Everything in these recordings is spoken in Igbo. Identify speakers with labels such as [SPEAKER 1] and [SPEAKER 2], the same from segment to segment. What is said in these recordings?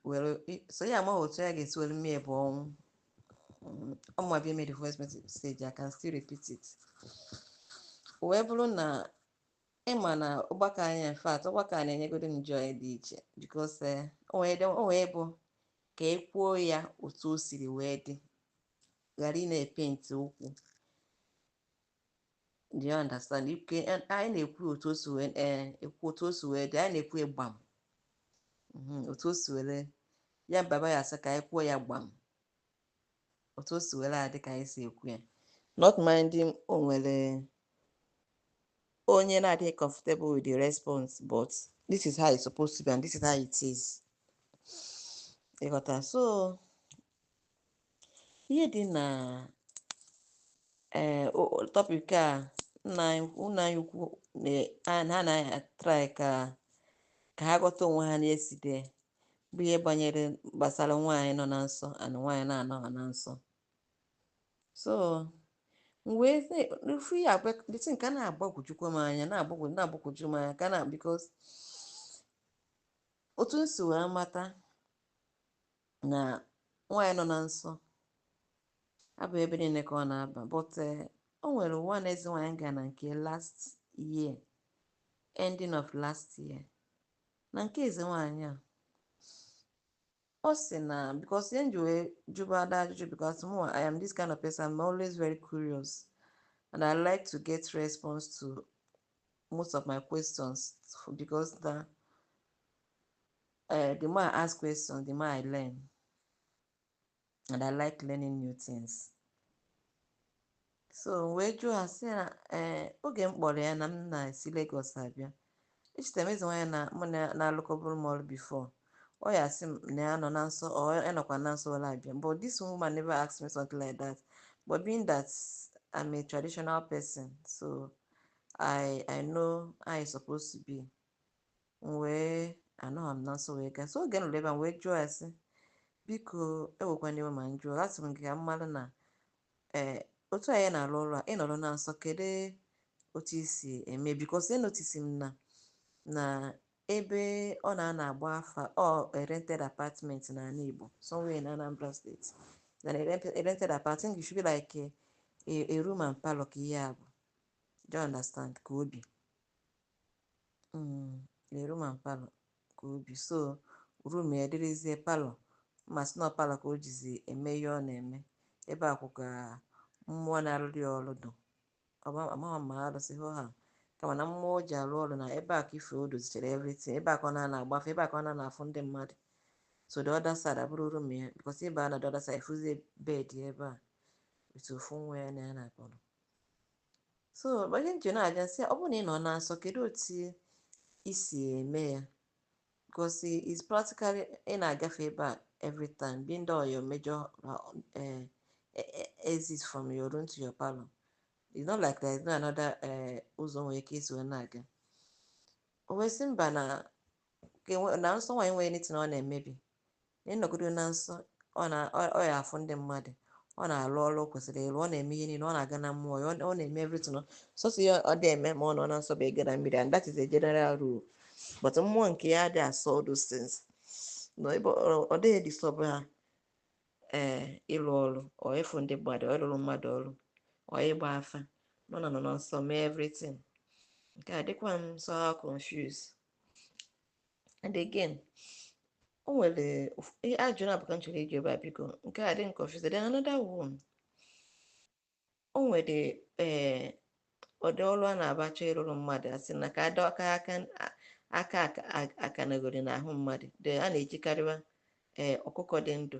[SPEAKER 1] were so ya amaghị otu ya ga-esi were mee bụ ọnwụ ọmụma bịa made the voice message I can still repeat it wee bụrụ na ịma na ọgbakọ anyị in fact ọgbakọ a na-enyegodo m joy dị iche because eh, o wee bụ ka e kwuo ya otu o siri wee dị ghara ị na-epenti okwu Do you understand? Anyị na-ekwu otu o si wee eh, ekwu otu o si wee dị, anyị na-ekwu ya gbam. Mhm, Otu o si were ya baba ya asị ka anyị kwuo ya gbam. Otu o si were adị ka anyị si ekwu ya. Not minding o nwere onye na-adịghị comfortable with the response but this is how it's supposed to be and this is how it is. Ịghọta so ihe dị na ee topic a nna anyị nna anyị ukwu na- a- ha na-atrai ka ka ha ghọta onwe ha na yesterday bụ ihe banyere gbasara nwaanyị nọ na nsọ and nwaanyị na-anọghị na nsọ so m wee sị- ofu ihe abịa dịtụ nke a na-agbagwojukwa m anya na-agbagwo na-agbagwoju m anya ka na because otu m si wee mata na nwaanyị nọ na nsọ abụghị ebe niile ka ọ na-aba but eh, o nwere one eze nwaanyị gara na nke last year ending of last year na nke eze nwaanyị a ọ sị na because ihe m ji wee jụba ada ajụjụ because mụ I am this kind of person I'm always very curious and I like to get response to most of my questions because na Uh, the more I ask questions, the more I learn. And I like learning new things. So wee jụọ ya sị na eh, oge m kpọrọ ya na m na-esi Lagos abịa echeta m eze nwaanyị na mụ na-alụkọbụrụ m ọrụ before ọ ya asị m na ya nọ na nsọ ọ ya nọkwa na nsọ were abịa but this woman never asked me something like that but being that I'm a traditional person so I I know how it's supposed to be m wee anọghị m na nsọ wee gaa so oge m ruru ebe a wee jụọ ya sị biko ewekwana iwe ma m jụọ asị m gị ka m mara na ee otu anyị na-arụ ọrụ a ị nọrọ na nsọ kedu otu i si eme because enotisi m na na ebe ọ na-anọ agba afa a rented apartment n'ala Igbo somewhere in Anambra State then a rented apartment should be like a, a, a room and parlor ka ihe a bụ do you understand ka o bi Mm, a room and parlor ka o bi so room ya dịrịzie parlor ma sị na ọ parlor ka o jizi eme ihe ọ na-eme ebe a kwụ ka mmụọ na-arụrụ ya ọrụ dụ amaghị ma arụsị hụ ha kama na mmụọ o ji arụ ọrụ na ebe a ka ife o dozichara everything ebe a ka ọ na-anọ agba afa ebe a ka ọ na-anọ afụ ndị mmadụ so the other side abụrụ room ya because ị baa na the other side fụzie bed ebe a etu ofu nwa ya na ya na-akpọrọ so ọ bụ ihe m ji na-ajụ ya sị ọ bụrụ na ị nọ na nsọ kedu otu i si eme ya because it's practically ị na-agafe ebe a every time being that your major uh, exit from your room to your parlor it's not like there is no another eh, ụzọ i nwere ike isi wee na-aga o wee sị mba na na nsọ nwaanyị enwerọ anything ọ na-emebi na ọ nọgodo na nsọ ọ na ọ ọ ya afụ ndị mmadụ ọ na-arụ ọrụ o kwesịrị ịrụ ọ na-eme ihe niile ọ na-aga na mmụọ ya ọ ọ na-eme everything ọ- sọsọ ihe ọ dị eme ma ọ nọ na nsọ bụ ịga na mmiri and that is a general rule but mmụọ nke ya dị asọ all those things na ebe ọ- ọ dịghị disturb ha ee ịrụ ọrụ ọ ịfụ ndị mmadụ ọ ịrụrụ mmadụ ọrụ ọ ịgba afa nọ na nọ na nsọ mee everything nke a dịkwa m so confused and again o nwere ajụjụ naabọ ka m chọrọ ịjụ ebe a biko nke a dị m confused then another one o nwere ee eh, ụdị ọrụ a na-abụ a chọọ ịrụrụ mmadụ a sị na ka a dọọ aka aka akanagori n'ahụ mmadụ a na-ejikarịwa ee eh, ọkụkọ dị ndụ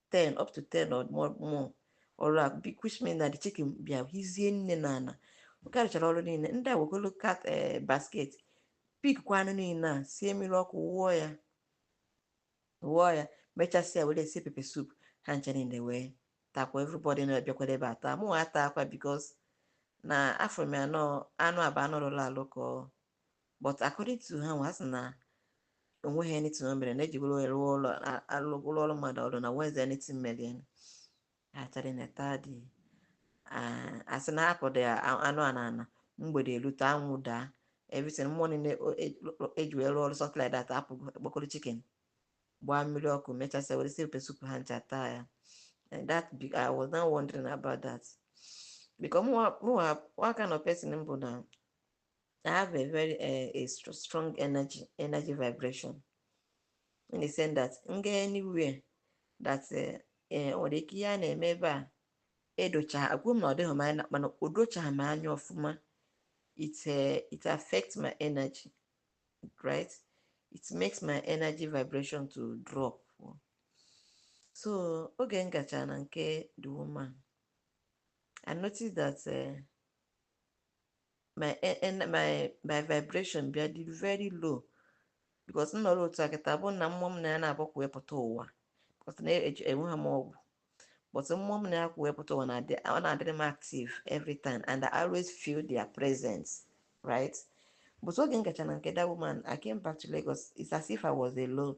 [SPEAKER 1] 10 up to 10 or more more ọrụ a bi- which means na the chicken bịa hizie nne na ala ka a rụchara ọrụ niile ndị a wegolo kat eh, basket pick kwa anụ niile a sie mmiri ọkụ wụọ ya wụọ ya mechasịa were sie pepper soup ha ncha niile wee takwa everybody na-abịakwara ebe a taa mụ ata akwa because na afụ m ya na anụ a bụ anụ rụrụ alụ ka ọ but according to ha nwa sị na o nweghị anything o mere na ejigoro ya rụọ ọrụ a- alụgoro ọrụ mmadụ ọrụ na o nwezi anything mere ya achara na tadi asị na akụdị anụ a na ana mgbede erute anwụ daa everything mmụọ niile o- e- o- eji wee rụọ ọrụ something like that apụgo e kpokoro chicken gbaa mmiri ọkụ mechasịa were sie pepper soup ha ncha taa ya And that be- I was now wondering about that because mụwa mụwa what kind of person m bụ na I have a very uh, a strong energy, energy vibration in the sense that m gaa anywhere that eh, eh, ọ dị ka ihe a na-eme ebe a edocha- ekwughị m na ọ dịghị mma mana o dochaghị m anya ọfụma it it affects my energy right it makes my energy vibration to drop so oge m gachara na nke the woman I noticed that my e- en- my my vibration bịa dị very low because m nọrọ otu a kịta bụ na mmụọ m na ya na-abụ kwụ pụta ụwa because na eji- enweghị m ọgwụ but mmụọ m na ya kwụ pụta ụwa na-adị ọ na-adịrị m active every time and I always feel their presence right but oge m gacha na nke that woman I came back to Lagos it's as if I was alone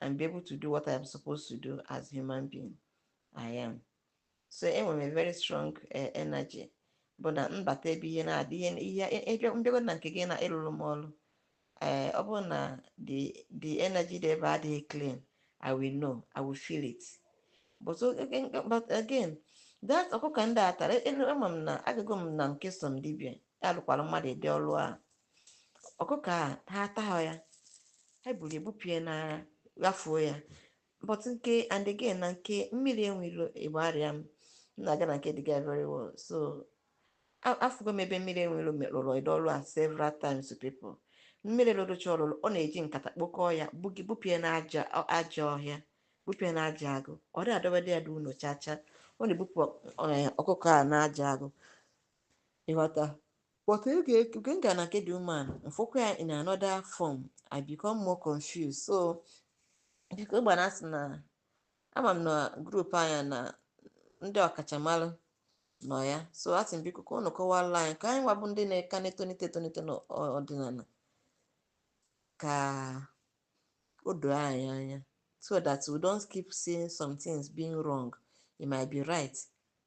[SPEAKER 1] and be able to do what I'm supposed to do as human being I am so enwere m a very strong eh, energy bụ na m bata ebe ihe na-adị ihe ihe e, e, m bịago na nke gị na ịlụrụ m ọrụ ee eh, ọ bụrụ na the the energy dị ebe a adịghị clean I will know I will feel it but again that ọkụkọ ndị a tara ama m na agago m na nke some dibia alụkwara mmadụ ụdị ọrụ a ọkụkọ a ha atahụ ya ha buru ya bupie n'ara ghafuo ya but nke and again na nke mmiri enwe ilo Igbariam m na-aga na nke the guy very well so a- afụgo m ebe mmiri enwe ilo rụrụ ụdị ọrụ a several times to people mmiri lụrụcha ọlụlụ ọ na-eji nkata kpokọọ ya bugi bupie na aja ọ- aja ọhịa bupie na aja agụ ọ dị adọbadị ya n'ụlọ chacha ọ na-ebupụ ọ- ọkụkọ a na aja agụ ị ghọta But oge oge m gara na nke the woman, m fụkwa ya in another form, I become more confused. So, biko gbana asị na ama m na group anyị nọ ndị ọkachamara nọ ya. So, asị m biko ka unu kọwara anyị ka anyị nwa bụ ndị na-eka na-etonite etonite n'ọdịnala ka o doo anyị anya so that we don't keep seeing some things being wrong. It might be right.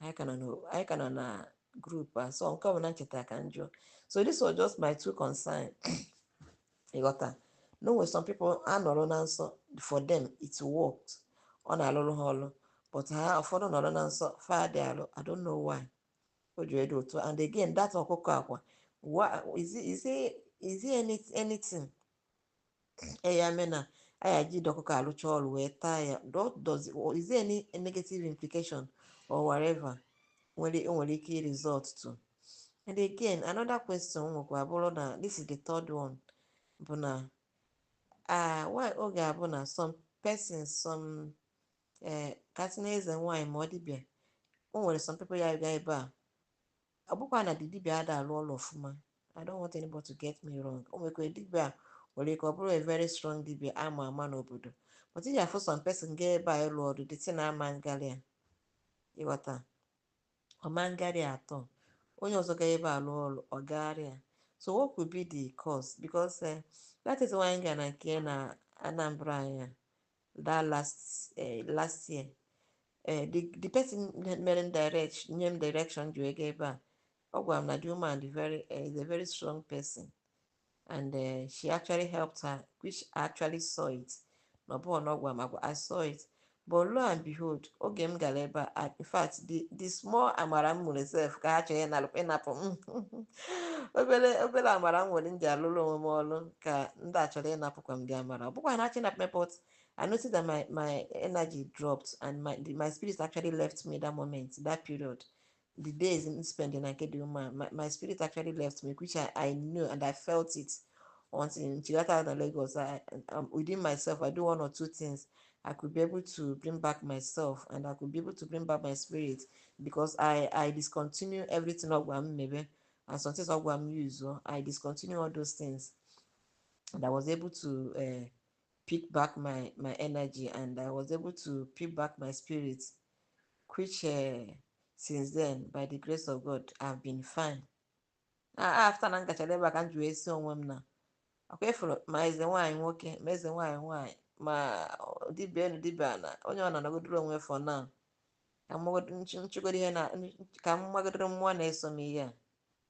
[SPEAKER 1] anyị ka nọ na anyị ka nọ na group a so nke ọbụla m chetara ka m jụọ so this was just my two concern ị ghọta na o nwere some people a nọrọ na nsọ for them it worked ọ na-alụrụ ha ọlụ but ha ụfọdụ nọrọ na nsọ fa ada alụ i don't know why o ji adị otu and again that ọkụkọ a kwa wa- is it- is it- is it any- anything e ya mee na a ya-eji the ọkụkọ arụcha ọrụ wee taa ya what does is there any negative implication or whatever nwere o nwere ike result to and again another question m nwekwa bụ na this is the third one bụ na ah why ọ ga-abụ na some persons some eh ka a sị na eze nwaanyị ma ọ dibia o nwere some people ya-aga ebe a ọ bụkwa na the dibia ada alụ ọlụ ọfụma i don't want anybody to get me wrong o nwekwara dibia a nwere ike ọ bụrụ a very strong dibia a ma ama n'obodo but ị ga-afụ some person gaa ebe a ịlụ ọlụ the thing ama agara ya ị ghọta ọ ma agara ya at all onye ọzọ gaa ebe a lụọ ọlụ ọ gaara ya so what could be the cause because eh, that is why anyị gara na nke na anambra anyị a that last eh, last year eh, the the person mere m direct nye m direction ji wee gaa ebe a ọ gwara m na the woman dị very eh, is a very strong person and eh, she actually helped her which I actually saw it na ọ bụghị na ọ gwara m agwa I saw it but lo and behold oge m gara ebe a in fact the the small amara m nwere sef ka ha chọrọ ịnalụ- ịnapụ m obere obere amara m nwere m ji alụrụ onwe m ọrụ ka ndị a chọrọ ịnapụkwa m the amara ọ bụ ka ha na-achọ ịnapụ m but I noticed that my my energy dropped and my the, my spirit actually left me that moment that period the days m spending na nke dị mma my, my spirit actually left me which I, I knew and I felt it until m chigata na Lagos I, um, within myself I do one or two things I could be able to bring back myself and I could be able to bring back my spirit because I I discontinue everything ọ gwara m mebe and some things ọ gwara m use o I discontinue all those things and I was able to uh, pick back my my energy and I was able to pick back my spirit which uh, since then by the grace of God I've been fine after na m gachara ebe a ka m ji wee sị onwe m na akwa ị fụrụ ma eze nwaanyị nwoke ma eze nwaanyị nwaanyị ma dibịa elu dibịa ala onye ọbụla nọgodoro onwe for now ka m magodoro ihe na ka m magodoro mmụọ na-eso m ihe a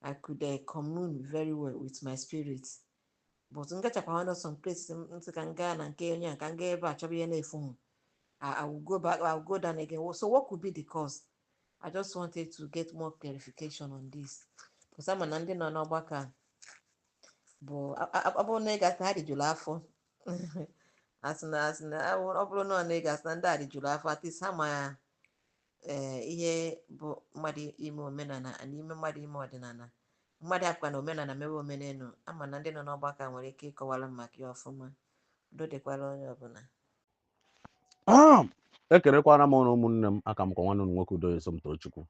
[SPEAKER 1] I could uh, commune very well with my spirit but m gachakwa some place m m sị ka m gaa na nke onye a ka m gaa ebe a chọba ihe na-efu m I, I will go back I will go down again so what could be the cause I just wanted to get more clarification on this because ama m na ndị nọ n'ọgbakọ a bụ a- a- ọ bụrụ na ị ga-asị ha rijuru afọ asị na asị na ọ bụrụ na ọ na ị ga-asị na ndị a rijuru afọ at least ha ma ee eh, ihe bụ mmadụ ime omenala na ime mmadụ ime ọdịnala mmadụ akwa na omenala mewe omenelu ama m na ndị nọ n'ọgbakọ nwere ike ịkọwara m maka ya ọfụma udo dịkwara onye ọbụla
[SPEAKER 2] ah! ekenekwana m ụnụ ụmụnne m aka m kwa nwanne ụnụ nwoke udoye somtochukwu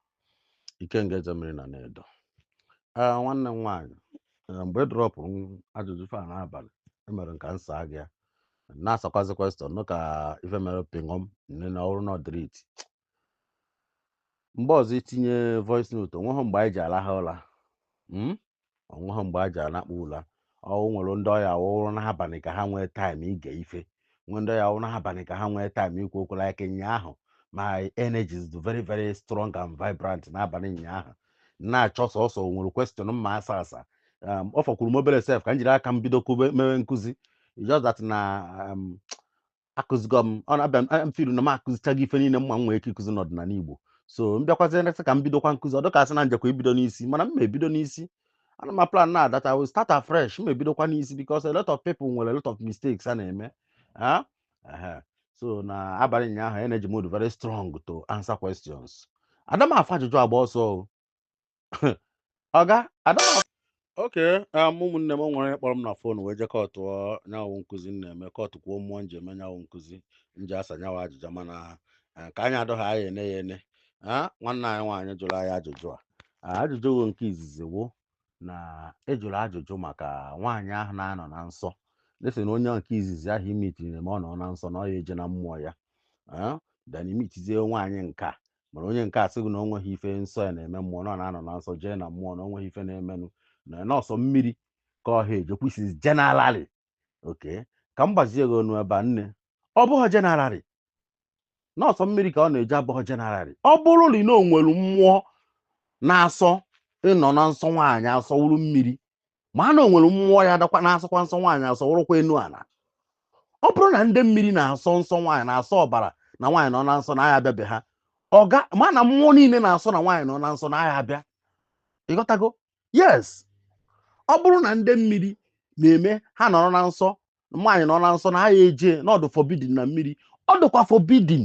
[SPEAKER 2] ikenga eze mmiri na anaedo ee eh, nwanne m nwaanyị eh, mgbe ị dropụrụ ajụjụ ife a n'abalị emere m ka m saa gị ya na-asakwazi question nụ ka ife mere pịṅọm nne na ọ wụrụ na ọ delete mgbe ọzọ i tinye voice note onweghị mgbe anyị ji alaha ụla mm? onweghị mgbe a ji anakpu ụla ọ wụ nwere ndị ọ ya-awụrụ n'abalị ka ha nwee taịm ige ife nwee ndị ọ ya-awụrụ n'abalị ka ha nwee taịm ikwu okwu like ụnyaahụ my energy is very very strong and vibrant n'abalị ụnyaahụ na-achọ sọsọ o nwere question m ma-asa asa um, ọ fọkwuru m obere sef ka m jiri aka m bido kube mewe nkụzi just that na um, akụzigo m ọ na-abịa m- m feel na m akụzichaghị ife niile m ma m nwere ike ịkụzi n'ọdịnala Igbo so m bịakwazie next ka m bidokwa nkụzi ọ dịka asị na m jekwa ibido n'isi mana m ma-ebido n'isi ana m plan na that I will start afresh m ebidokwa n'isi because a lot of people nwere a lot of mistakes a na-eme Ah, so na abalị ụnyaahụ energy m dị very strong to answer questions ada m afụ ajụjụ agba ọsọ ọga adama okay um, ụmụnne m o nwere onye kpọrọ m na fon wee je kọtụ nyawa nkụzi m na-eme kọtụkwuo mmụọ m ji eme nyawa nkụzi m ji asa nyawa ajụjụ mana eh, ka anyị adọghị anyị ene ya ene nwanne anyị nwaanyị jụrụ anyị ajụjụ a ajụjụ nke izizi wụ na a jụrụ ajụjụ maka nwaanyị ahụ na-anọ na nsọ let's say na onye nke izizi ahụ imitiri na ma ọ nọ na nsọ na ọ ya eje na mmụọ ya then imitizie nwaanyị nke a mana onye nke a sị gị na o nweghị ife nsọ ya na-eme mmụọ na ọ na-anọ na nsọ jee na mmụọ na o nweghị ife na-emenụ na ọ sọ mmiri ka ọ ha ejekwusizi generally okay ka m gbazie gị ọnụ ebe a nne ọ bụghị generally na ọ sọ mmiri ka ọ na-eje abụghị generally ọ bụrụ na ị na o nwere mmụọ na-asọ ịnọ na nsọ nwaanyị asọ wụrụ mmiri ma a na o nwere mmụọ adakwana asọkwa nsọ nwaanyị asọ wụrụkwa enu ala ọ bụrụ na ndị mmiri na-asọ nsọ nwaanyị na-asọ ọbara na nwaanyị nọ na nsọ na aha abịa be ha ọga ma na mmụọ niile na-asọ na nwaanyị nọ na nsọ na aha abịa ịghọtago yes ọ bụrụ na ndị mmiri na-eme ha nọrọ na nsọ nwaanyị nọ na nsọ na aha eje na ọ dị forbidden na mmiri ọ dịkwa forbidden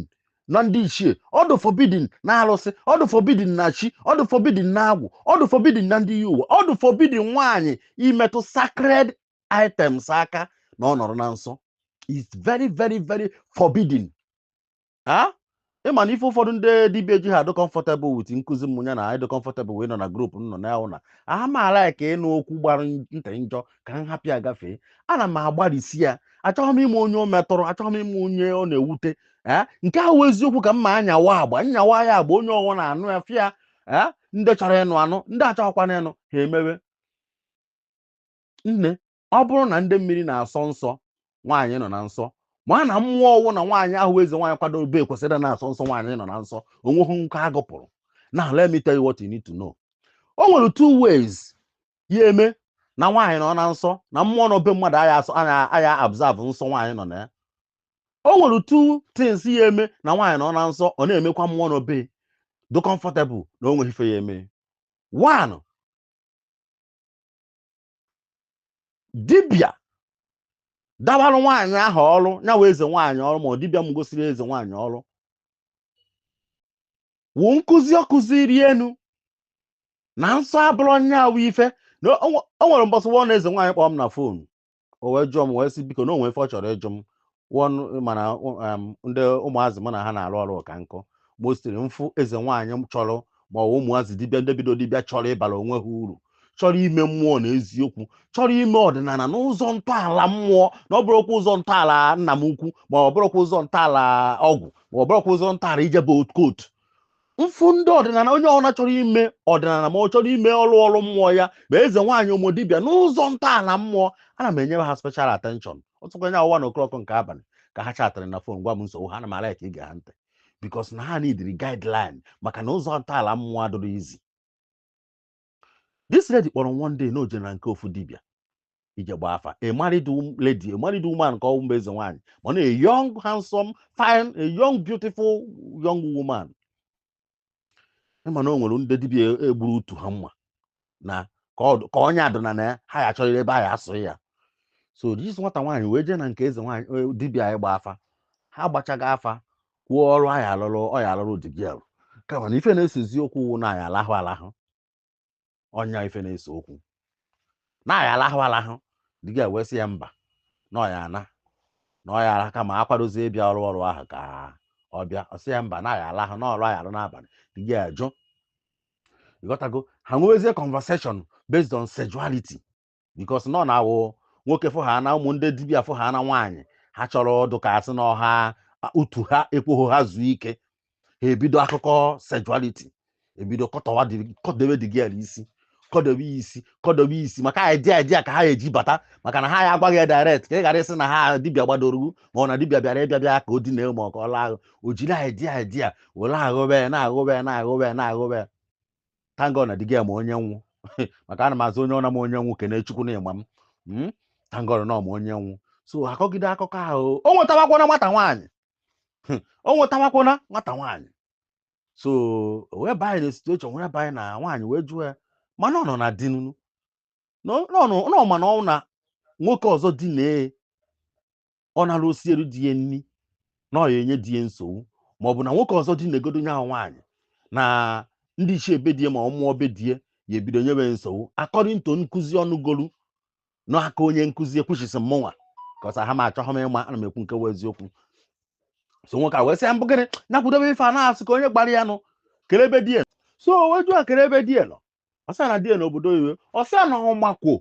[SPEAKER 2] na ndị ichie ọ dị forbidden na arụsị ọ dị forbidden na chi ọ dị forbidden na agwụ ọ dị forbidden na ndị iyi ụwa ọ dị forbidden nwaanyị imetụ sacred items aka na ọ nọrọ na nsọ is very very very forbidden a ịma na ife ụfọdụ ndị dibịa jiha adụ comfortable with nkụzi m ya na ịdị comfortable wee nọ na group m nọ na ahụ na aha m ala ka ịnụ okwu gbara ntị njọ ka m hapụ ya gafee ana m agbalịsi ya achọghị m ịma onye o metụrụ achọghị m ịma onye ọ na-ewute ee nke wụ eziokwu ka m ma nyawa agba nyawa ya agba onye ọ wụna anụ ya fịa ee ndị chọrọ ịnụ anụ ndị achọghịkwana ịnụ ha emewe nne ọ bụrụ na ndị mmiri na-asọ nsọ nwaanyị nọ na nsọ ma na mmụọ ọ wụna nwaanyị ahụ eze nwaanyị kwadobe kwesịrị na-asọ nsọ nwaanyị nọ na nsọ o nweghị nke a gụpụrụ now let me tell you what you need to know o nwere two ways ya eme na nwaanyị nọ na nsọ na mmụọ nọ be mmadụ aya observe nsọ nwaanyị nọ na ya o nwere two things ya eme na nwaanyị nọ na nsọ ọ na-emekwa mmụọ nọ be dị comfortable na o nweghị ife ya eme one dibịa dabarụ nwaanyị ahụ ọrụ nyawa eze nwaanyị ọrụ ma ọ dibịa m gosiri eze nwaanyị ọrụ wụ nkụzi ọ kụziri yanụ na nsọ abụrụ nyawa ife na o nwe- o nwere mbọsị wụọ na eze nwaanyị kpọọ m na fon o wee jụọ m wee sị biko na o nwee ife ọ chọrọ ịjụ m wọnụ mana um, ndị ụmụazị mụ na ha na-arụ ọrụ ụka nkụ mostly m fụ eze nwaanyị chọrọ ma ọ bụ ụmụazị dibịa ndị bido dibịa chọrọ ịbara onwe ha uru chọrọ ime mmụọ na eziokwu chọrọ ime ọdịnala n'ụzọ ntọala mmụọ na ọ bụrụkwa ụzọ ntọala nna m ukwu ma ọ bụrụkwa ụzọ ntọala ọgwụ ma ọ bụrụkwa ụzọ ntọala ijebe occult m fụ ndị ọdịnala onye ọbụla chọrọ ime ọdịnala ma ọ chọrọ ime ọrụ ọrụ mmụọ ya ma eze nwaanyị ụmụ dibịa n'ụzọ ntọala mmụọ ana m enyere ha special attention ọ sọkwa nya wụ one o'clock nke abalị ka ha chatịrị na phone gwa m nsogbu ha ana m a-like ige ha ntị because na ha needịrị guideline maka na ụzọ ntọala mmụọ adịrọ easy this lady kpọrọ m one day na o je na nke ofu dibịa ije gbaa afa a married wom- lady a married woman ka ọ mba eze nwaanyị mana a young handsome fine a young beautiful young woman ị ma na o nwere ndị dibịa e- egburu utu ha mma na ka ọ- ka onye adịna na ya ha ya achọrọ ebe ha ya asụ ya so this nwata nwaanyị wee jee na nke eze nwaanyị eh, dibịa ịgba afa ha gbachaga afa kwuo ọrụ a ya alụrụ ọ ya alụrụ the girl kama na ife na-esezi okwu wụ na a ya alahụ alahụ ọ nya ife na-ese okwu na a ya alahụ alahụ the girl wee sị ya mba na ọ ya ana na ọya ala kama akwadozie ịbịa ọrụ ọrụ ahụ ka ọ bịa ọ sị ya mba na a ya alahụ na ọrụ a ya alụ n'abalị the girl ajụ ị ghọtago ha nwewezie conversation based on sexuality because na ọ na-awụ nwoke fụ ha na ụmụ ndị dibịa fụ ha na nwaanyị ha chọrọ ọ dụ ka a sị na ọ ha utu ha ekweghị ha zuo ike ha ebido akụkọ sexuality ebido kọtọwa dị- kọdebe the girl isi kọdebe ya isi kọdebe ya isi maka idea idea ka ha eji bata maka na ha ya agwaghị ya direct ka ị ghara ịsị na ha dibịa gbadoro ugwu ma ọ na dibịa bịara ịbịa bịa ka o dina ma ọ ka ọ lahụ o jiri idea idea were aghụbe ya na-aghụbe ya na-aghụbe ya na-aghụbe ya thank God na the girl ma onye m wụ maka ana m asị onye ọna ma onye m wụ kene chukwu na ị ma m Mm, thank God na ọ ma onye m wụ so akọgide akụkọ ahụ o nwetawakwana nwata nwaanyị Hmm, o nwetawakwana nwata nwaanyị so o wee banye na situation wee banye na nwaanyị wee jụọ ya mana ọ nọ na di nunu na ọ nọ- na ọ ma na ọ na nwoke ọzọ dina ọ nara o sielu di ya nri na ọ ya enye di ya nsogbu ma ọ bụ na nwoke ọzọ dinagodo nya nwaanyị na ndị ichie be di ya ma ọ mmụọ be di ya ebido nyewe nsogbu according to nkụzi ọ nụgolu n'aka onye nkụzi e which is mmụnwa kọsa ha ma achọghị m ịma ana m ekwu nke wụ eziokwu so nwoke a wee sị ya mbụ gịnị nya kwudobe ife a na-asị ka onye gbara ya nụ kere ebe di ya so o wee jụọ kere ebe di ya nọ ọ sị a na di e nọ obodo oyibo ọ sị a na ọ makwa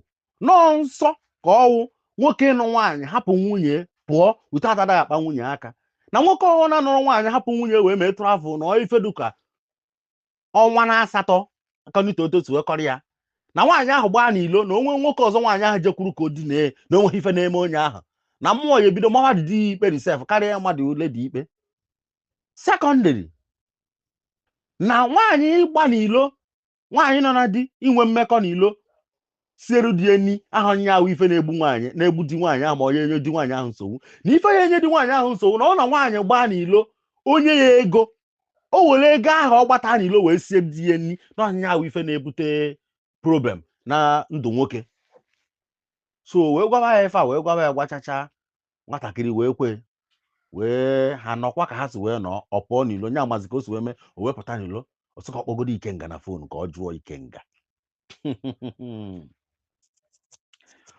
[SPEAKER 2] na ọ nsọ ka ọ wụ nwoke ịnụ nwaanyị hapụ nwunye pụọ without adaghị akpa nwunye aka na nwoke ọwụna nụrụ nwaanyị hapụ nwunye wee mee travel na ife dị ka ọnwa na asatọ kanite otu otu wee kọọrọ ya na nwaanyị ahụ gbaa n'ilo na o nwee nwoke ọzọ nwaanyị ahụ jekwuru ka o dinee na o nweghị ife na-eme onye ahụ na mmụọ ya ebido mawa di di ikpe sef karịa mmadụ ole di ikpe secondly na nwaanyị ịgba n'ilo nwaanyị nọ na di inwe mmekọ n'ilo siere di e nni ahụ ọ nya wụ ife na-egbu nwaanyị na-egbu di nwaanyị ahụ ma ọ ya enye di nwaanyị ahụ nsogbu na ife ya enye di nwaanyị ahụ nsogbu na ọ na nwaanyị gbaa n'ilo o nye ya ego o were ego ahụ ọ gbata n'ilo wee sie di ya nni na ọ nya wụ ife na-ebute problem na ndụ nwoke so wee gwaba ya ife a wee gwaba ya gwachacha nwatakịrị wee kwe wee ha nọkwa ka ha si wee nọọ ọ pụọ n'ilo nya amazi ka o si wee mee o wee pụta n'ilo ọ sị ka ọ kpọgodo ikenga na phone ka ọ jụọ ikenga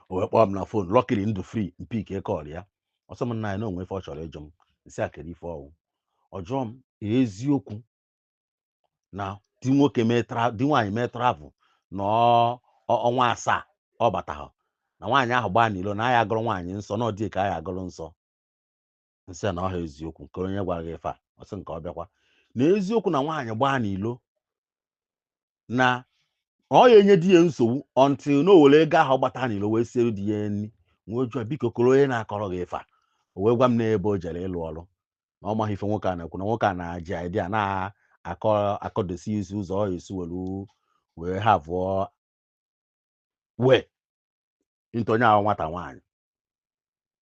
[SPEAKER 2] o wee kpọọ m na phone luckily m dị free m pickie call ya ọ sị m nna anyị na o nwe ife ọ chọrọ ịjụ m m sị a kere ife ọ wụ ọ jụọ m eziokwu na di nwoke mee tra- di nwaanyị mee travel na ọ- ọ- ọnwa asaa ọ batahụ na nwaanyị ahụ gbaa n'ilo na a ya-agụrụ nwaanyị nsọ na ọ di e ka a ya-agụrụ nsọ m sị a na ọ ha eziokwu kee onye gwara gị ife a ọ sị nke ọ bịakwa na eziokwu na nwaanyị gbaa n'ilo na ọ ya enye di ya nsogbu until na o were ego ahụ gbata n'ilo wee siere di ya nri m wee jụọ biko kere onye na-akọrọ gị ife a o wee gwa m na ebe o jere ịlụ ọrụ na ọ maghị ife nwoke a na-ekwu na nwoke a na-aji idea na-akọ akọdosi isi ụzọ ọ esi were wee have way into nya wụ nwata nwaanyị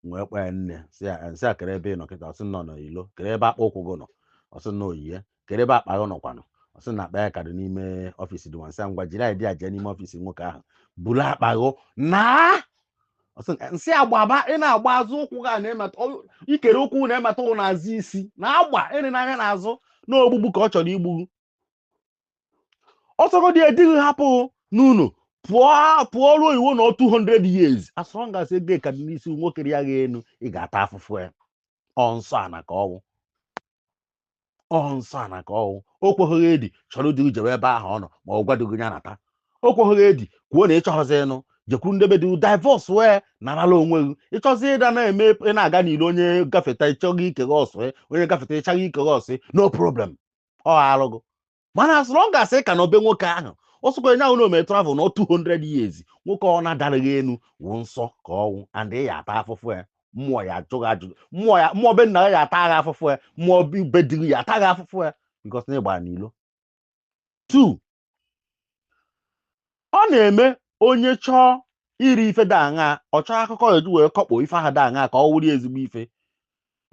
[SPEAKER 2] m wee kpọọ ya nne sị ya m sị a kere ebe ị nọ kịta ọ sị na ọ n'ilo kere ebe akpụ ụkwụ gị nọ ọ sị na o yi e kere ebe akpa gị nọkwanụ ọ sị na akpa ya ka dị n'ime office dị nwa m sị a ngwa jiri idea jee n'ime office nwoke ahụ buru akpa gị naa ọ sị eh m sị a gbaba ị na-agba azụ ụkwụ gị a na-emeta ọ- ikere ụkwụ na-emeta ụkwụ n'azụ isi na-agba elena anya n'azụ na ogbugbu ka ọ chọrọ igbu gị ọ sọgodi di gị hapụ n'ụlọ pụọ pụọ ruo oyibo nọọ 200 years as long as ego ka dị n'isi nwoke rịa gị enu ị ga-ata afụfụ ya ọ nsọ ana ka ọ wụ ọ nsọ ana ka ọ wụ o kweghị gị edi chọrọ di jewe ebe ahụ ọ nọ ma ọ gwa di gị ya nata o kweghị gị edi kwuo na ị chọghịzị ịnụ jekwuru nde be di divorce wee narala onwe gị ị chọzi ịda na-eme ị na-aga n'ilo onye gafeta ị chaghee ike gị ọ sụ onye gafeta ị chaghee ike gị ọ sụ no problem ọ arụ gị mana as long as ị ka nọ be nwoke ahụ ọsọkwa nya wụ na o mere travel na 200 years nwoke ọwụna dara gị enu wụ nsọ ka ọ wụ and ị ya ata afụfụ ya mmụọ ya ajụ gị ajụjụ mmụọ ya mmụọ be nna ya ata gị afụfụ ya mmụọ be di gị ya ata gị afụfụ ya because na ịgbara n'ilo two ọ na-eme onye chọọ iri ife dị aṅa ọ chọọ akụkọ ya eji wee kọkpọ ife ahụ dị aṅa ka ọ wụrụ ezigbo ife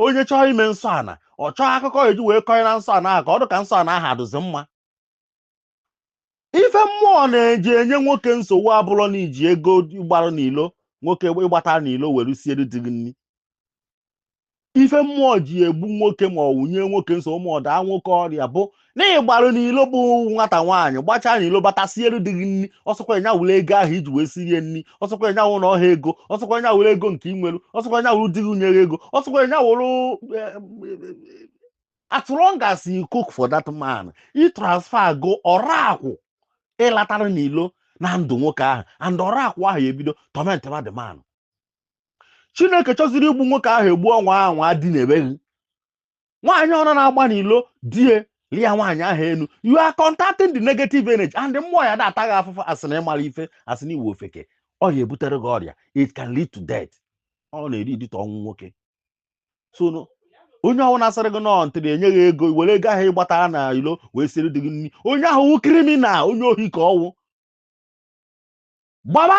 [SPEAKER 2] onye chọọ ime nsọ ana ọ chọọ akụkọ ya eji wee kọnye na nsọ ana ahụ ka ọ dị ka nsọ ana ahụ adụzi mma ife mmụọ na-eji enye nwoke nsogbu abụrọ na iji ego ịgbara n'ilo nwoke ịgbatara n'ilo were siere di gị nri ife mmụọ ji egbu nwoke ma ọ wụ nye nwoke nsogbu ma ọ daa nwoke ọrịa bụ na ịgbara n'ilo bụ nwata nwaanyị gbachaa n'ilo bata siere di gị nri ọsọkwa nya wụrụ ego ahụ iji wee sirie nri ọsọkwa nya wụrụ ọha ego ọsọkwa nya wụrụ ego nke inwere ọsọkwa nya wụrụ di gị nyere ego ọsọkwa nya wụrụ as long as you cook for that man i transfer go ọrakwụ ịlatara n'ilo na ndụ nwoke ahụ and ọrakwụ ahụ ebido tọmentịba the man chineke chọziri igbu nwoke ahụ egbu ọ nwaa anwa dinebe gị nwaanyị ọwụna na-agba n'ilo di ya lia nwaanyị ahụ enu you are contacting the negative energy and mmụọ ya na-ata gị afụfụ asị na ịmara ife asị na ị wụ ofeke ọ ya ebutere gị ọrịa it can lead to death ọ na-eri idite ọnwụ nwoke so onye ọwụna sịrị gị na until enye gị ego were ego ahụ ịgbatara na ilo wee siri di gị nri onye ahụ wụ kriminal onye ohi ka ọ wụ gbaba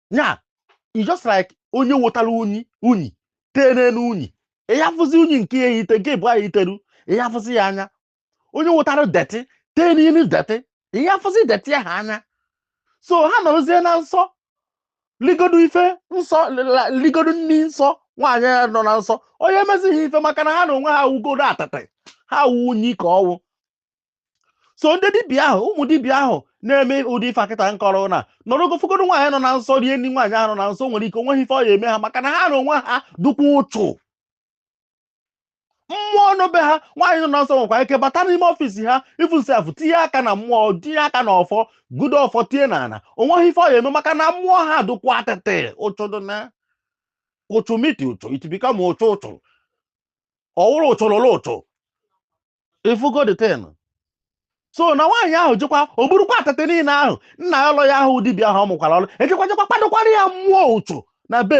[SPEAKER 2] ya it's just like onye wotara unyi tee n'enu unyi ị ya afụzi unyi nke ya eyite nke bụ ahụ iteru ị ya afụzi ya anya onye wotara detị tee n'enu detị ị ya afụzi detị ahụ anya so ha nọrọzie na nsọ ligodo ife nsọ ligodo nni nsọ nwaanyị nọ na nsọ ọ ya emezi ha ife maka na ha na onwe ha wugodo atịtị ha wụ unyi ka ọwụ so ndị dibịa ahụ ụmụ dibịa ahụ na-eme ụdị ife a kịta m kọrọ na nọrọgo fụgodo nwaanyị nọ na nsọ rie nri nwaanyị ahụ nọ na nsọ nwere ike onweghị ife ọ ya eme ha maka na ha na onwe ha dụkwa ụchụ mmụọ nọ be ha nwaanyị nọ na nsọ nwekwa ike bata n'ime ọfiisi ha even sef tinye aka na mmụọ tinye aka na ọfọ gudo ọfọ tie na ana onweghị ife ọ ya eme maka na mmụọ ha dụkwa atịtị ụchụ dị na ụchụ meet ụchụ it become ụchụ ụchụ ọwụrụ ụchụ lụrụ ụchụ ịfụgo the thing so na nwaanyị ahụ jekwa o burukwa atịtị niile ahụ na-ayọ ụlọ ya ahụ dibịa ahụ ọ mụkwara ọrụ ejekwa jekwa kwadokwara ya mmụọ ụchụ na be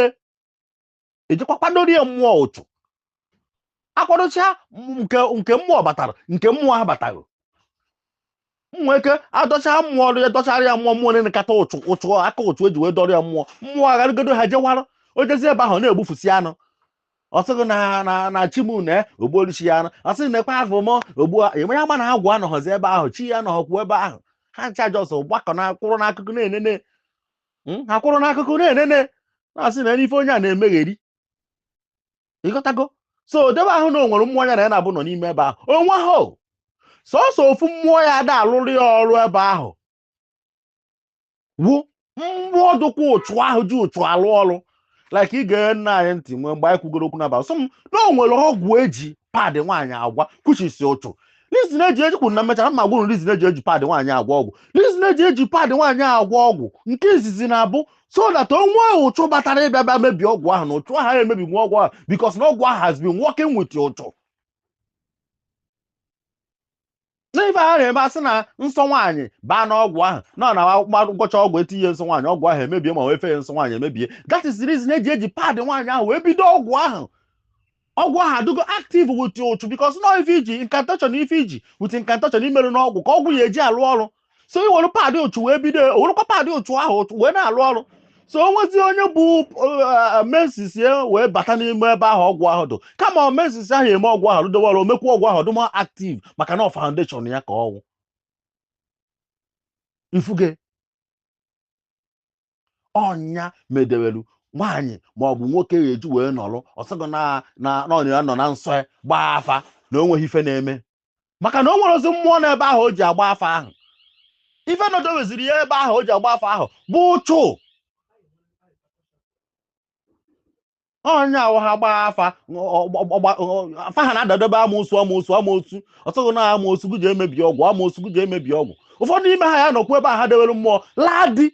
[SPEAKER 2] ejekwa kwadoro ya mmụọ ụchụ akwadocha nke mmụọ batara nke mmụọ ha batarọ nwee ike adọcha mmụọ ọrụ ya dọchara ya mmụọ mmụọ nekata ụchụ ụchụ aka ụchụ eji wee dọrọ ya mmụọ mmụọ agharịgodo ha jewara o jezie ebe ahụ na-egbufusi anụ ọ sị gị na na na chi m na o gbuolu chi ya anụ ọ sị gị na ekwe afọ m ogbu enwe ya mana agwụ anọghọzi ebe ahụ chi ya nọghọkwu ebe ahụ ha ncha jọs gbakọ na kwụrụ n'akụkụ na-enene Mm, ha kwụrụ n'akụkụ na-enene na-asị na ife onye a na-emegheri ịghọtago so ọ dị ebe ahụ na o nwerọ mmụọ ya na ya na-abụ nọ n'ime ebe ahụ o nwehọ sọsọ ofu mmụọ ya ada alụrụ ya ọrụ ebe ahụ wụ mmụọ dụkwa ụchụ ahụ ji ụchụ alụ ọrụ like ị gee nna anyị ntị nwee mgbe anyị kwugoro okwu n'abalị sọ m na o nwere ọgwụ eji pad nwaanyị agwọ kwuchisi ụchụ reason eji eji kwuru na m mechaa m agwa ụnụ reason eji eji pad nwaanyị agwọ ọgwụ reason eji eji pad nwaanyị agwọ ọgwụ nke izizi na-abụ so that o nwee ụchụ batara ịbịa bịa mebie ọgwụ ahụ na ụchụ ahụ emebi nwa ọgwụ ahụ because na ọgwụ ahụ has been working with ụchụ n'ife a na-eme asị na nsọ nwaanyị baa n'ọgwụ ahụ na ọ na ngwọcha ọgwụ etinye nsọ nwaanyị ọgwụ ahụ emebie ma wee fee nsọ nwaanyị emebie that is the reason eji eji pad nwaanyị ahụ wee bido ọgwụ ahụ ọgwụ ahụ adịgo active with ụchụ because na ife iji incantation na ife iji with incantation i merụ n'ọgwụ ka ọgwụ ya eji alụ ọrụ so i were pad ụchụ wee bido o werekwa pad ụchụ ahụ ụchụ wee na-alụ ọrụ so o nwezi onye bu uh, menses ya wee bata n'ime ebe ahụ ọgwụ ahụ dụ kama ọ menses ahụ eme ọgwụ ahụ rụdowe ọrụ omekwa ọgwụ ahụ dụma active maka na ọ foundation ya ka ọ wụ ifugo ọ nya medewelu nwaanyị ma ọ bụ nwoke ga-eji wee nọrọ ọ sị gị na na na ọ ya nọ na nsọ ya gbaa afa na o nweghị ife na-eme maka na o nwerozi mmụọ n'ebe ahụ o ji agba afa ahụ ife nọdoweziri ya ebe ahụ o ji agba afa ahụ bụ ụchụ ọ nya wụ ha gbaa afa afa ha na-adadobe amoosu amoosu amoosu ọ sị gị na amoosu gị ga-emebi ọgwụ amoosu gị ga-emebi ọgwụ ụfọdụ n'ime ha ya nọkwu ebe a ha dewere mmụọ laa di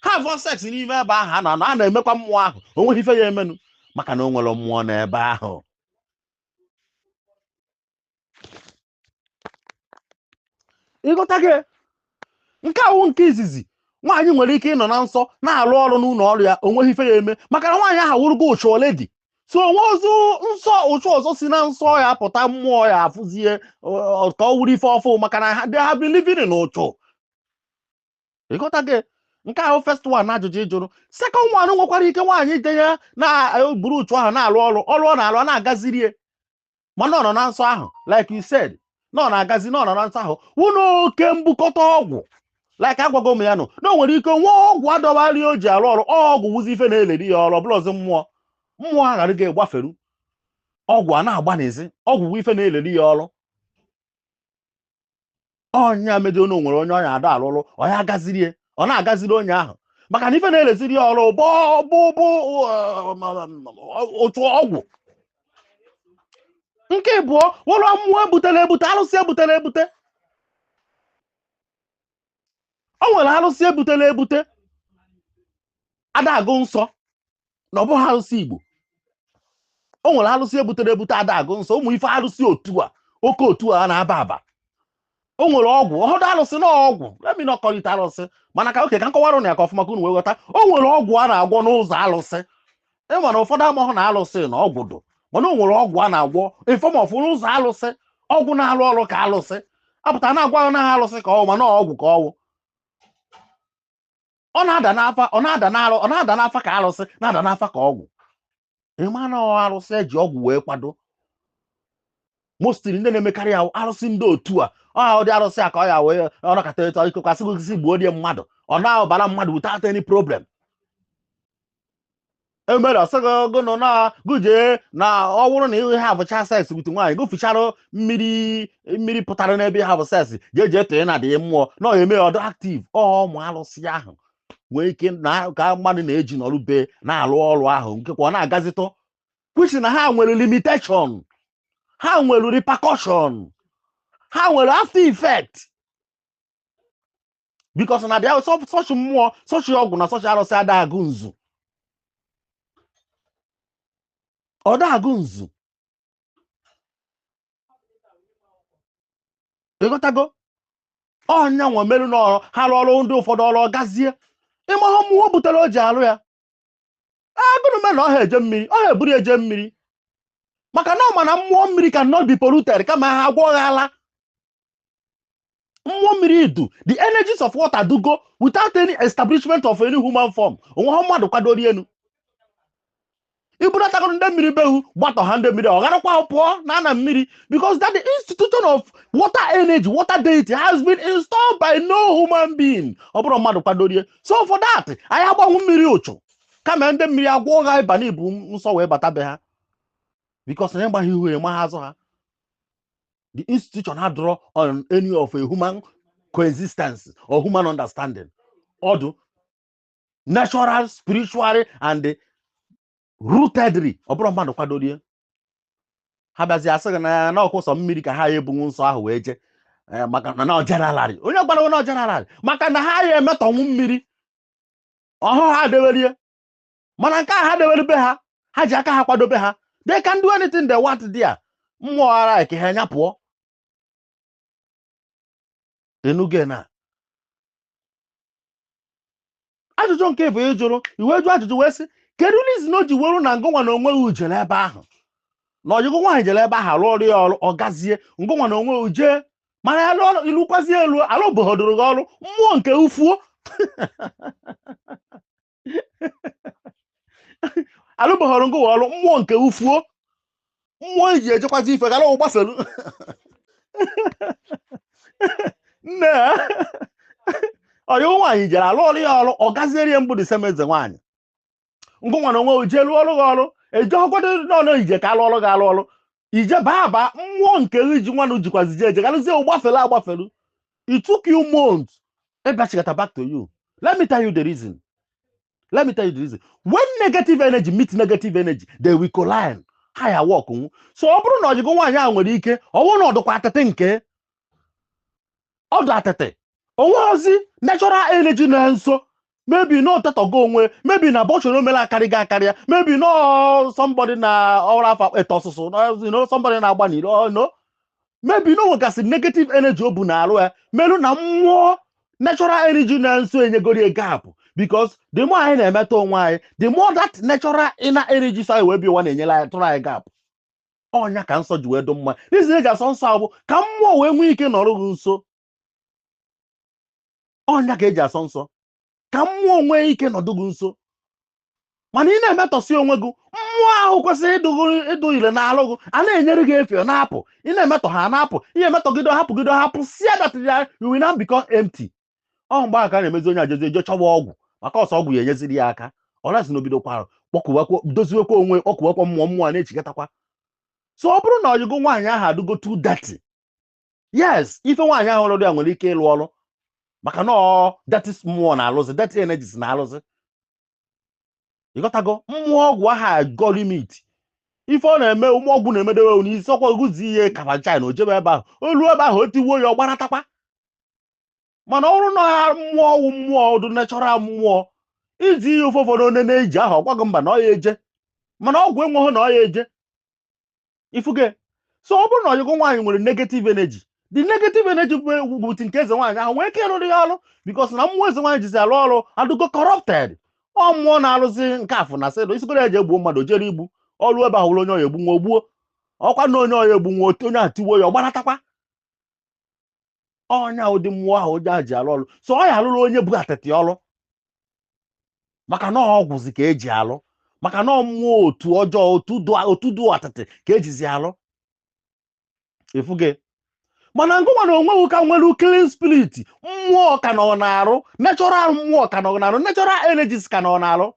[SPEAKER 2] ha have sex n'ime ebe ahụ a na-anọ a na-emekwa mmụọ ahụ o nweghị ife ya emenụ maka na o nwerọ mmụọ n'ebe ahụ ịghọtago nke a wụ nke izizi nwaanyị nwere ike ịnọ na nsọ na-arụ ọrụ n'ụlọ ọrụ ya o nweghị ife ya eme maka na nwaanyị ahụ wụrụgo ụchụ already so o nwezie nsọ ụchụ ọzọ si na nsọ ya pụta mmụọ ya afụzie ka ọ wụrụ ife ọfụ maka na ha they have been living in ụchụ ịghọtago nke a wụ first one n'ajụjụ ị jụrụ second one nwekwara ike nwaanyị ide ya na-eburu ụchụ ahụ na-arụ ọrụ ọrụ ọ na-arụ ọ na-agaziri ya mana ọ nọ na nsọ ahụ like you said na ọ na-agazi na ọ nọ na nsọ ahụ wụ n'oke mbukọta ọgwụ like agwago m ya nụ na o nwere ike o nwee ọgwụ a dọbara ya o ji arụ ọrụ ọgwụ wụzi ife na-eleri ya ọrụ ọ bụrọzi mmụọ mmụọ aghara ya gbaferu ọgwụ a na-agba n'ezi ọgwụ wụ ife na-eleri ya ọrụ ọ nya medo na o nwere onye ọ nya ada alụlụ ọ nya agaziri ya ọ na-agaziri onye ahụ maka na ife na-eleziri ya ọrụ bụ bụ bụ otu ọgwụ nke ịbụọ wụrụ mmụọ ebutere ebute alụsị ebutere ebute o nwere arụsị ebutere ebute ada agụ nsọ na ọ bụghị arụsị igbo o nwere arụsị ebutere ebute ada agụ nsọ ụmụ ife arụsị otu a oke otu a na-aba aba o nwere ọgwụ ọhụdụ arụsị na ọgwụ let me not call it arụsị mana ka okay ka m kọwara ụnụ ya ka ọfụma ka unu wee ghọta o nwere ọgwụ a na-agwọ n'ụzọ arụsị ịma na ụfọdụ amahụ na alụsị na ọgwụ dụ mana o nwere ọgwụ a na-agwọ in form of n'ụzọ alụsị ọgwụ na-alụ ọrụ ka alụsị apụta na-agwa na alụsị ka ọ wụ mana ọgwụ ka ọ wụ ọ na-ada n'afa ọ na-ada n'alụ ọ na-ada n'afa ka alụsị na-ada n'afa ka ọgwụ ịma na ọ alụsị e ji ọgwụ wee kwado mostly ndị na-emekarị ya arụsị ndị otu a ọ ahụ dị arụsị a ka ọ ya wee ọ nọkata etu ikekwasị gosisi gbuo die mmadụ ọ na-abara mmadụ without any problem emere ọsọgo gụnụ na gụje na ọ bụrụ na ị havụchaa sex with nwaanyị gụ fichara mmiri pụtara n'ebe ị havụ sex jeje tee na dị mmụọ na ọ eme ọ dụ active ụmụ alụsị ahụ nwee ike na ka mmadụ na-eji n'ọrụ be na-alụ ọrụ ahụ nke kwa ọ na-agazitọ kwusi na ha nwere limitation ha nwere repercussion ha nwere after effect because na dị such mmụọ such ọgwụ na such arụsị ada agụ nzu ọ da agụ nzu ịghọtago ọ nya nwa merụ n'ọrụ ha rụọ ọrụ ndị ụfọdụ ọrụ gazie ị mahụ mmụọ butere o ji arụ ya agụrụme na ọ ha eje mmiri ọ ha eburu eje mmiri maka na ọ ma na mmụọ mmiri cannot be polluted kama ha agwọghala mmụọ mmiri idu the energies of water dụgo without any establishment of any human form o nweha mmadụ kwadoro elu i bunatago ndị mmiri behu gbatọ ha ndị mmiri ọ garakwa pụọ na ana mmiri because that the institution of water energy water deity has been installed by no human being ọ bụrọ mmadụ kwadoro ya so for that anyị agbanwu mmiri ụchụ kama ndị mmiri agwa gị ịba na ibu nsọ wee bata be ha because na ịmaghị ihu amaha azụ ha the institution ha adụrọ on any of a human coexistence or human understanding ọ dụ natural spiritual and rootedly ọ bụrọ mmadụ kwadoro ya ha bịazi asị gị na ya na ọ wụ sọ mmiri ka ha ya ebunwu nsọ ahụ wee jee eh, maka na na ọ generally onye gwara onye ọ generally maka na ha ya emetọnwụ mmiri ọ hụ ha dewere ya mana nke ha dewere be ha ha ji aka ha kwado be ha they can do anything they want there mmụọ ara ka ha nya pụọ enuge na ajụjụ nke ịbụọ ị jụrụ i wee jụ ajụjụ wee sị kedu reason o ji weru na ngụ nwa na onwe gụ jere ebe ahụ na ọyị gụ nwaanyị jere ebe ahụ a lụọrọ ya ọrụ ọ gazie ngụ nwa na onwe gụ jee mana ya lụọ ilu kwazie elu alụbọhọdụrụ gị ọrụ mmụọ nke gụ fuo alụbọhọrọ ngụ nwa ọrụ mmụọ nke gụ fuo mmụọ i ji ejekwazi ife gara ụwa gbafelu nne ya ọyị gụ nwaanyị jere a lụọrọ ya ọrụ ọ gaziere ya mbụ the same eze nwaanyị ngụ nwa na onwe gụ jee lụọrọ gị ọrụ ejeọgọdụ n'ọnụ ije ka a lụọrọ gị alụ ọrụ i jee baa baa mmụọ nke i ji nwanụ jikwazi je ejegharịzie ụgbafere agbafere it took you months ịbịachigata back to you let me tell you the reason let me tell you the reason when negative energy meet negative energy they will collide ha ya work nwu so ọ bụrụ na ọyị gụ nwaanyị ahụ nwere ike ọ bụrụ na ọ dịkwa atịtị nke ọ dụ atịtị o nwehozi natural energy na nso maybe na ọ tetọgo onwe maybe na abortion o melu akarịgo akarịa maybe na somebody na ọrụ afọ ete ọsụsụ na somebody na-agba n'iro no maybe na o nwegasị negative energy o bu na arụ ya merụ na mmụọ natural energy na nso enyegori gap because the more anyị na-emetọ onwe anyị the more that natural inner energy so anyị wee bịa ụwa na-enyere anyị tụrụ anyị gap ọ nya ka nsọ ji wee dụ mma reason e ji asọ nsọ a bụ ka mmụọ wee nwee ike nọrọ gị nso ọ nya ka e ji asọ nsọ ka mmụọ nwee ike nọdụ gị nso mana ị na-emetọsi onwe gị mmụọ ahụ kwesịrị ịdụ ire n'alụ gị a na-enyere gị efe na-apụ ị na-emetọ ha na-apụ ị ya-emetọgide ha pụgide ha pụsịa that area you will now become empty ọ mgbe ahụ ka a na-emezi onye a jezie jee chọwa ọgwụ maka ọ sọ ọgwụ ya-enyeziri ya aka unless na o bidokwara kpọkuwakwa doziwekwa onwe kpọkuwakwa mmụọ mmụọ a na-echigatakwa so ọ bụrụ na ọyị gụ nwaanyị ahụ adịgo too dirty yes ife nwaanyị ahụ lụụrụ ya nwere ike ịlụ ọrụ maka na ọ dirty mmụọ na-alụzi dirty energies na-alụzi ị ghọtago mmụọ ọgwụ ahụ agọ limit ife ọ na-eme mmụọ ọgwụ na-emedewe n'isi ọ kwa oguzi ihe kafa china o jebe ebe ahụ o lue ebe ahụ o tiwuo ya ọ gbaratakwa mana ọ bụrụ na ọ mmụọ wụ mmụọ dụ natural mmụọ i zie ya ife ụfọdụ onye na-eji ahụ ọ gwa gị mba na ọ ya eje mana ọgwụ enweghị na ọ ya eje ifuge so ọ bụrụ na ọyị gụ nwaanyị nwere negative energy the negative energy bụ ti nke eze nwaanyị ahụ nwee ike ịrụrụ ya ọrụ because na mmụọ eze nwaanyị jizi alụ ọrụ adụgo corrupted ọ mmụọ na-arụzi nke afụ na sịdụ e zigoro ya jee gbuo mmadụ jere igbu o rue ebe ahụ ọ wụrụ onye ọ ya-egbunwu o gbuo ọ kwa na onye ọ ya egbunwu onye ahụ tiwo ya ọ gbanatakwa ọnya awụ ụdị mmụọ ahụ onye ahụ ji alụ ọlụ so ọ ya alụrụ onye bu atịtị ọlụ maka na ọgwụzi ka eji alụ maka na mmụọ otu ọjọọ otu dụ- otu dụ atịtị ka ejizi alụ ifuge mana ngụnwa na onwe gị ka nwere clean spirit mmụọ ka nọ n'arụ natural mmụọ ka nọ n'arụ natural energies ka nọ n'arụ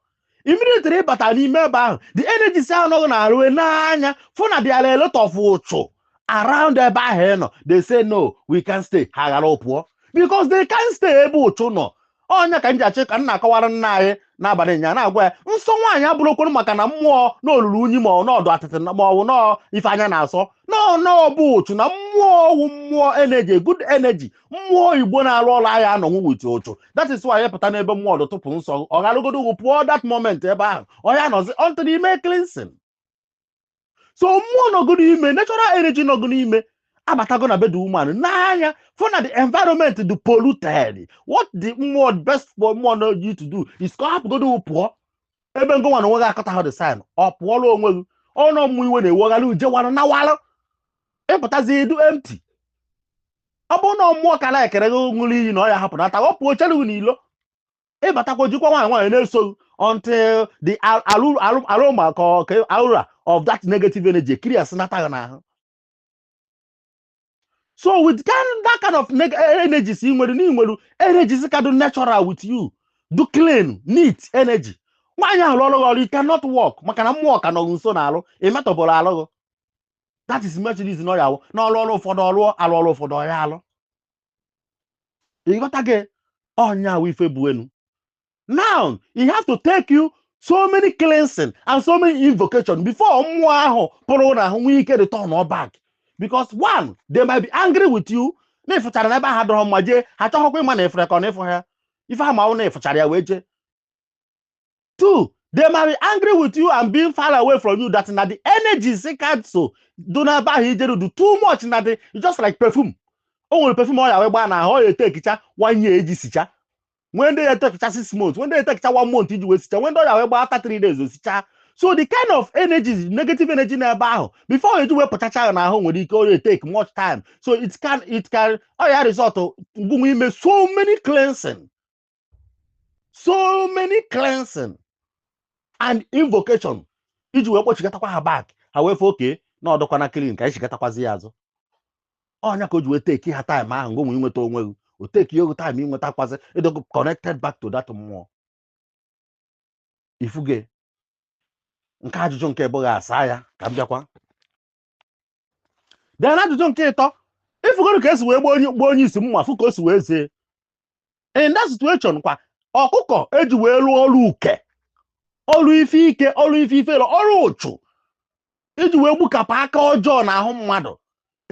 [SPEAKER 2] immediately ị batara n'ime ebe ahụ the energies nọ gị n'arụ n'anya fụ na there are a lot of ụchụ around ebe ahụ ị nọ they say no we can't stay ha ghara pụọ because they can't stay ebe ụchụ nọ ọnya ka m ji achị ka m na-akọwara nna anyị n'abalị nya na-agwa ya nsọ nwaanyị abụrọkwuru maka na mmụọ na o lulu unyi ma ọ na ọ dụ atịtị na- ma ọ bụ na ọ ife anya na-asọ no no ọ bụ ụchụ na mmụọ wụ mmụọ energy good energy mmụọ igbo na-arụ ọrụ aya anọnwu with ụchụ that is why pụta n'ebe mmụọ dụ tụpụ nsọ ọ gharagodu gụ pụọ that moment ebe ahụ ọ ya anọzi until ime cleansing so mmụọ nọ gụ n'ime natural energy nọ gụ n'ime abatago na be the woman n'anya fụ na the environment dị polluted what the mmụọ best for mmụọ na you to do is ka ọ hapụgodo pụọ ebe ngụnwa na onwe gị aghọtaha the sign ọ pụọla onwe gị ọnụ mmụ iwe na-ewegharị uje wara na wara ịpụtazi ị dụ empty ọ bụrụ na mmụọ ka na-ekere gị ṅụrụ iyi na ọ ya hapụ nata ọ pụọ chere gị n'ilo ịbatakwa jikwa nwayọọ nwayọọ na-eso gị until the ar- aru- aru- aroma ka ọ- ka aura of that negative energy clear sị nata gị n'ahụ so with kind, that kind of neg- energies ị nwere na ị nwere energies ka dị natural with you dụ clean neat energy nwaanyị ahụ lụrụ gị ọrụ it cannot work maka na mmụọ ka nọ gị nso n'arụ ị metọbụrọ arụ gị that is most cases na ọ ya awụ na ọrụ ọrụ ụfọdụ ọrụ alụ ọrụ ụfọdụ ọ ya alụ ị ghọtago ọnya awụ ife bụ enu now it has to take you so many cleansing and so many invocation before mmụọ ahụ pụrụ n'ahụ nwee ike return ọ back because one they might be angry with you na ị fụchara na ebe ahụ adụrọ mma jee ha achọghịkwa ịma na ị fụrụ ka ọ na ị fụha ife ha ma wụ na ị fụchara ya wee jee two they might be angry with you and being far away from you that na the energies ka so dụ na ebe ahụ i jeru dụ too much na ọ dụ just like perfume o nwere perfume ọ ya wee gbaa na ahụ ọ ya etekicha one year eji sicha nwee ndị ya etekicha six months nwee ndị ya etekicha one month iji wee sicha nwee ndị ọ ya wee gbaa after three days o sicha so the kind of energy negative energy n'ebe ahụ before ọ eji wee pụchacha ya n'ahụ nwere ike ọ ya take much time so it can it can ọ ya result ngụnwa ime so many cleansing so many cleansing and invocation iji wee kpọchighatakwa ha back ha wee fụ okay na ọ dụkwana clean ka anyị chighatakwazia azụ ọnya ka o ji wee teki ha time ahụ ngụnwa inweta onwe gị o teki gị time inwetakwazi ị dụgo connected back to that mmụọ ifuge nke ajụjụ nke mbụ gị asa ya ka m bịakwa then na ajụjụ nke ịtọ ifugoro ka esi wee gbuo onye gbuo onye isi mma fụ ka o si wee zie in that situation kwa ọkụkọ eji wee lụọ ọrụ uke ọrụ ife ike ọrụ ife ifere ọrụ ụchụ iji wee gbukapụ aka ọjọọ na ahụ mmadụ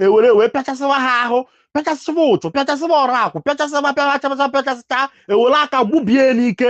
[SPEAKER 2] ewere wee pịachasịwa ha ahụ pịachasịwa ụchụ pịachasịwa ọrụ akwụ pịachasịwa pịachasịwa pịachasịcha ewere aka gbubie n'ike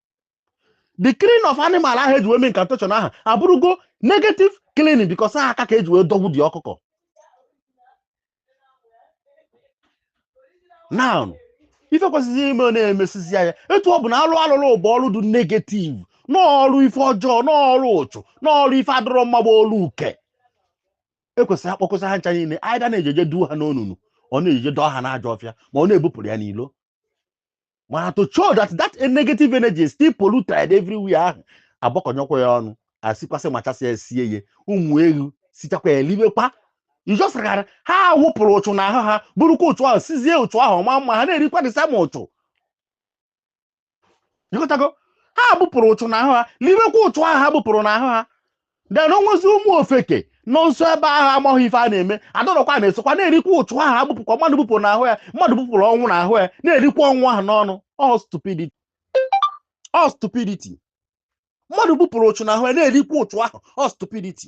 [SPEAKER 2] the killing of animal ahụ eji wee mee incantation ahụ abụrụgo negative killing because aha aka ka eji wee dọgbu the ọkụkọ now ife kwesịrị ime ọ na-emesizi ya etu ọ bụ na alụ alụrụ bụ ọrụ dị negative n'ọrụ ife ọjọọ n'ọrụ ụchụ n'ọrụ ife adọrọ mma bụ ọrụ uke ekwesịrị akpọkọsị ha ncha niile either na-ejeje duo ha n'onunu or na-ejeje dọọ ha n'ajọ ọfịa ma ọ na-ebupụrụ ya n'ilo mana to show that that negative energy still polluted everywhere ahụ agbakọnyekwa ya ọnụ asikwasị machasị ya sie ya ụmụ ewu sichakwa ya eliwekwa ijosara ha wupụrụ ụchụ na ahụ ha burukwa ụchụ ahụ sizie ụchụ ahụ ma mma ha na-erikwa the same ụchụ ịghọtago ha bupụrụ ụchụ na ahụ ha liwekwa ụchụ ahụ ha bupụrụ na ahụ ha then onwezi ụmụ ofeke nọ nso ebe ahụ amaghị ife a na-eme adọrọkwa na-esokwa na-erikwa ụchụ ahụ agbupụkwa mmadụ bupụrụ n'ahụ ya mmadụ bupụrụ ọnwụ n'ahụ ya na-erikwa ọnwụ ahụ n'ọnụ all stupidity all stupidity mmadụ bupụrụ ụchụ n'ahụ ya na-erikwa ụchụ ahụ all stupidity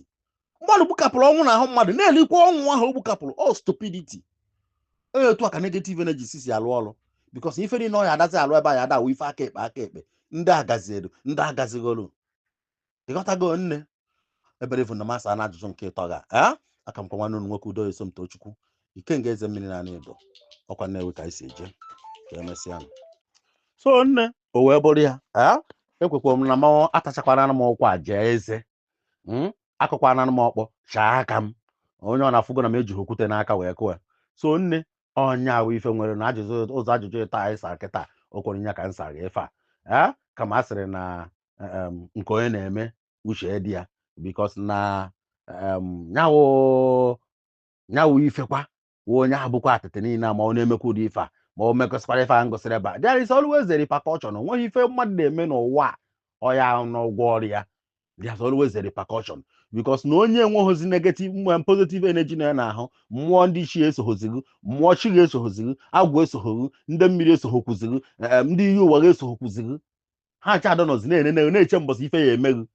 [SPEAKER 2] mmadụ gbukapụrụ ọnwụ n'ahụ mmadụ na-erikwa ọnwụ ahụ o gbukapụrụ all stupidity ọnya otu a ka negative energy si si alụ ọrụ because ife niile ọ ya adazi alụ ebe a ya adawa ife aka ekpe aka ekpe ndị agazielu ndị agazigholu ịghọtago nne ebere ifu na m asana ajụjụ nke ịtọ ga ee aka m kwa nwanne unu nwoke udo esomtochukwu ikenga eze mmiri na anaedo ọkwa nnewi ka anyị si eje ka emesịa nụ. so nne o wee bụrụ ya ee ekwekwa m na m atachakwana m ụkwa jie eze Mm, akụkwana m ọkpọ chaa aka m onye ọ na-afụgo na m ejighị okwute n'aka wee kụọ ya. so nne ọnya ahụ ife nwere na ajụjụ ụzọ ajụjụ ịtọ anyị sara kịta o kwere nya ka m sara efe a ee kama a sịrị na um, nke onye na-eme uche dị ya because na um, nya wụ nya wụ ifekwa wụ onye ahụ bụkwa atịtị niile a ma ọ na-emekwa ụdị ife a ma o mekọsịkwara ife a m gụsịrị ebe a there is always a repercussion o nweghị ife mmadụ na-eme n'ụwa a ọ ya n'ụgwọ ọrụ ya there is always a repercussion because na onye enweghịzi negative mwe positive energy na ya n'ahụ mmụọ ndị ichie esoghozighi mmụọ chi gị esoghozighi agwụ esoghoghi ndị mmiri esoghokuzighi em, ndị iyi ụwa gị esoghokuzighi ha ncha adọ nọzi na-ene na- na-eche mbọsị ife ya emeghị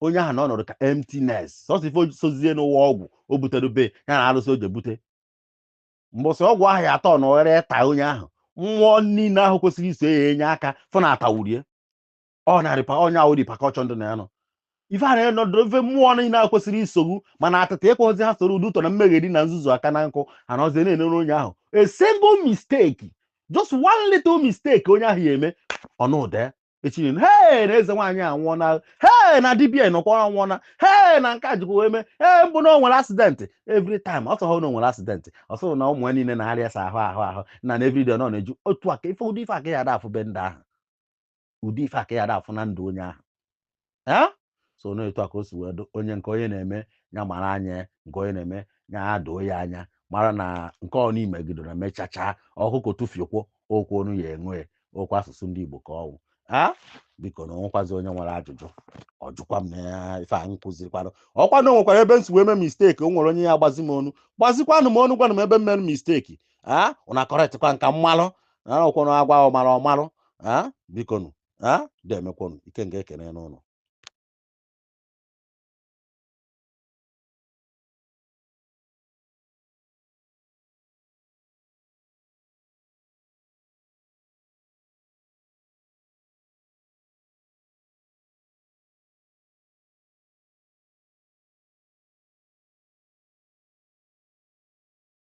[SPEAKER 2] onye ahụ na ọnọdụ ka emptiness sọsọ ife sozie n'ụwa ọgwụ o butere be ya na arụsị o je bute mbọsị ọgwụ ahụ ya atọ na oghere ta onye ahụ mmụọ niile ahụ kwesịrị iso ya enye aka fụ na atawurie ọ narịpa onye ahụ repercussion ndụ na ya nọ ife a na-enọdụ ife mmụọ niile a kwesịrị iso ghụ mana atịta ịkpọzi ha soro ụdị ụtọ na mmegheri na nzuzu aka na nkụ anọzie na-enere onye ahụ a single mistake just one little mistake onye ahụ ya eme ọnụde echi niile hee na eze nwaanyị anwụọna hee na dibia nọkwa anwụọna hee na nke a jikwa wee mee ee mbụ na o nwere accident every time ọ sọghọ na o nwere accident ọ sọghọ na ụmụ ya niile na-arịasa ahụ na everyday ọ nọ na-eju otu aka ife ụdị ife a ka ya ada afụ be ndị ahụ ụdị ife a ka ya da afụ na ndụ onye ahụ ee so na etu a ka o si wee dụ onye nke onye na-eme ya mara anya nke onye na-eme ya doo ya anya mara na nke ọ na-emegido na mechacha ọkụkọ tụfiekwo okwu onu ya enwe okwu asụsụ ndị Igbo ka ọ wụ a biko na o nwekwazi onye nwere ajụjụ ọ jụkwa m na ya ife a m kụzirikwara ọkwa na o nwekwara ebe m si wee mee mistake o nwere onye ya-agbazi m unu gbazikwanụ m unu gwanụ m ebe m mere mistake a ụna correctịkwa m ka m malụ na ọkwanụ a gwa ọmalụ ọ malụ ah, bikonụ ah, demekwonu Ikenga ekene unu o